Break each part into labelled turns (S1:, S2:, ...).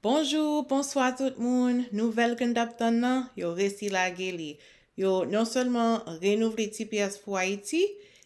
S1: Bonjou, bonswa tout moun, nouvèl ke n tap tann nan, yo resi lage li. Yo non sèlman renouvle tps pou Ayiti,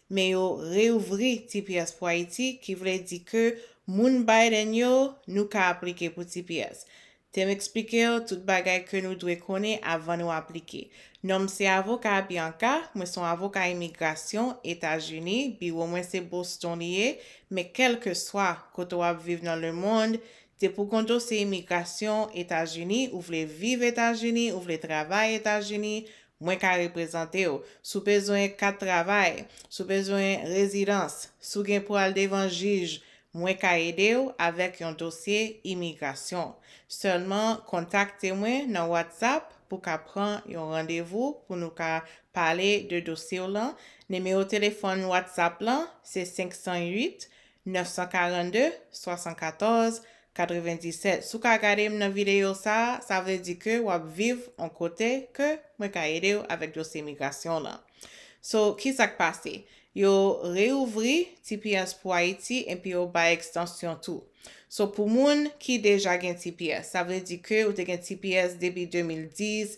S1: men yo reouvri tps pou Ayiti, ki vle di ke moun Biden yo, nou ka aplike pou tps. Te m eksplike w tout bagay ke nou dwe konnen avan nou aplike. Non m se avoka Bianca, mwen son avoka imigrasyon Etazini, biwo mwen se Boston li ye, men kèlkeswa kote w ap viv nan lemond, Se pou kont ou se imigrasyon etazini ou vle viv etazini ou vle travay etazini mwen ka reprezantew si w bezwen kat travay si w bezwen rezidans si w gen pou al devan jij mwen ka ede w avèk yon dosye imigrasyon sèlman kontakte mwen nan whatsapp pou ka pran yon randevou pou nou ka pale de dosye w lan nimewo telefòn whatsapp lan se 508 942 74 97 si w ka gade m nan videyo sa a sa vle di ke w ap viv on kote ke mwen ka ede w avèk dosye migrasyon w lan so ki sa k pase yo reyouvri tps pou ayiti epi yo bay ekstansyon tou so pou moun ki deja gen tps sa vle di ke ou te gen tps depi 2010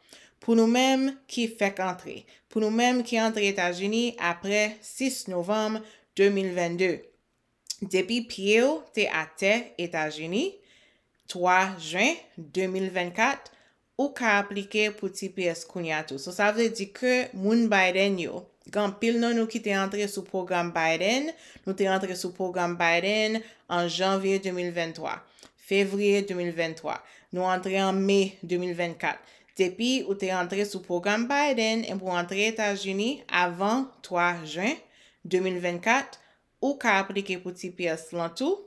S1: Pou nou menm ki fèk antre, pou nou menm ki antre Etazini apre 6 novanm 2022, depi pye w te atè Etazini 3 jen 2024, ou ka aplike pou tps kounye a tou. So sa vle di ke moun Biden yo, gen anpil nan nou ki te antre sou pwogram Biden, nou te antre sou pwogram Biden an janvye 2023. Fevrier 2023 nou antre an Mai 2024 depi ou te antre sou pwogram Biden epi ou antre Etazini avan 3 Juin 2024 ou ka aplike pou tps lan tou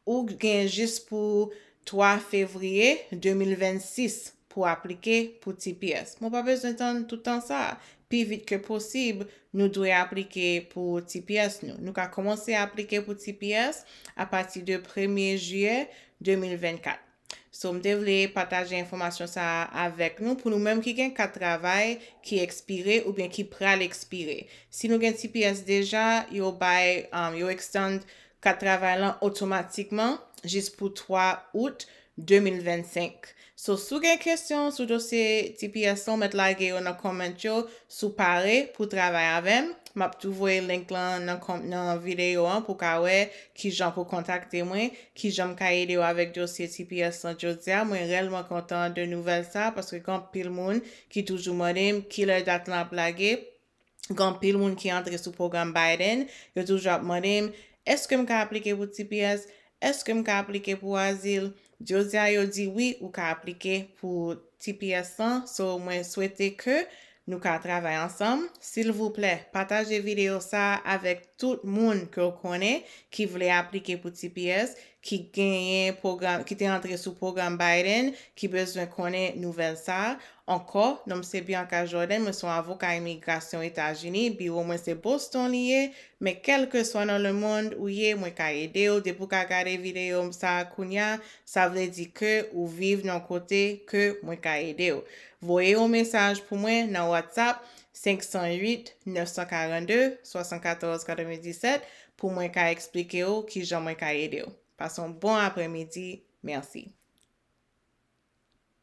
S1: ou gen jis pou 3 Fevrier 2026 pou aplike pou tps mwen pa bezwen tann tout tan sa Pi vit ke posib, nou dwe aplike pou tps nou. Nou ka kòmanse aplike pou tps apati de premye jiyè 2024. So m te vle pataje enfòmasyon sa a avèk nou pou nou menm ki gen kat travay ki ekspire oubyen ki pral ekspire. Si nou gen tps deja, yo bay, yo extend kat travay lan otomatikman jis pou 3 out 2025 So si w gen kesyon sou dosye tps lan w mèt lage yo nan comment yo si w pare pou w travay avè m m ap tou voye link lan nan nan videyo an pou w ka wè kijan pou w kontakte mwen kijan m ka ede w avèk dosye tps lan jodia mwen rèlman kontan de nouvèl sa paske gen anpil moun ki toujou mande m kilè dat lan ap lage gen anpil moun ki antre sou pwogram Biden, yo toujou ap mande m, Èske m ka aplike pou tps? Èske m ka aplike pou azil? Jodi a yo di wi ou ka aplike pou tps lan, so mwen swete ke nou ka travay ansanm. Silvouplè, pataje videyo sa a avèk tout moun ke w konnen ki vle aplike pou tps, ki genyen pwogram, ki te antre sou pwogram Biden, ki bezwen konnen nouvèl sa a. Ankò, non m se Bianca Jordan, mwen se yon avoka imigrasyon Etazini, biwo mwen se Boston li ye, men kèlkeswa nan lemonn ou ye mwen ka ede w, depi w ka gade videyo m sa a kounya, sa vle di ke ou viv nan yon kote ke mwen ka ede w. Voye yon mesaj pou mwen nan WhatsApp 508 942 74 97 pou mwen ka eksplike w kijan mwen ka ede w. Pase yon bon aprèmidi. Mèsi.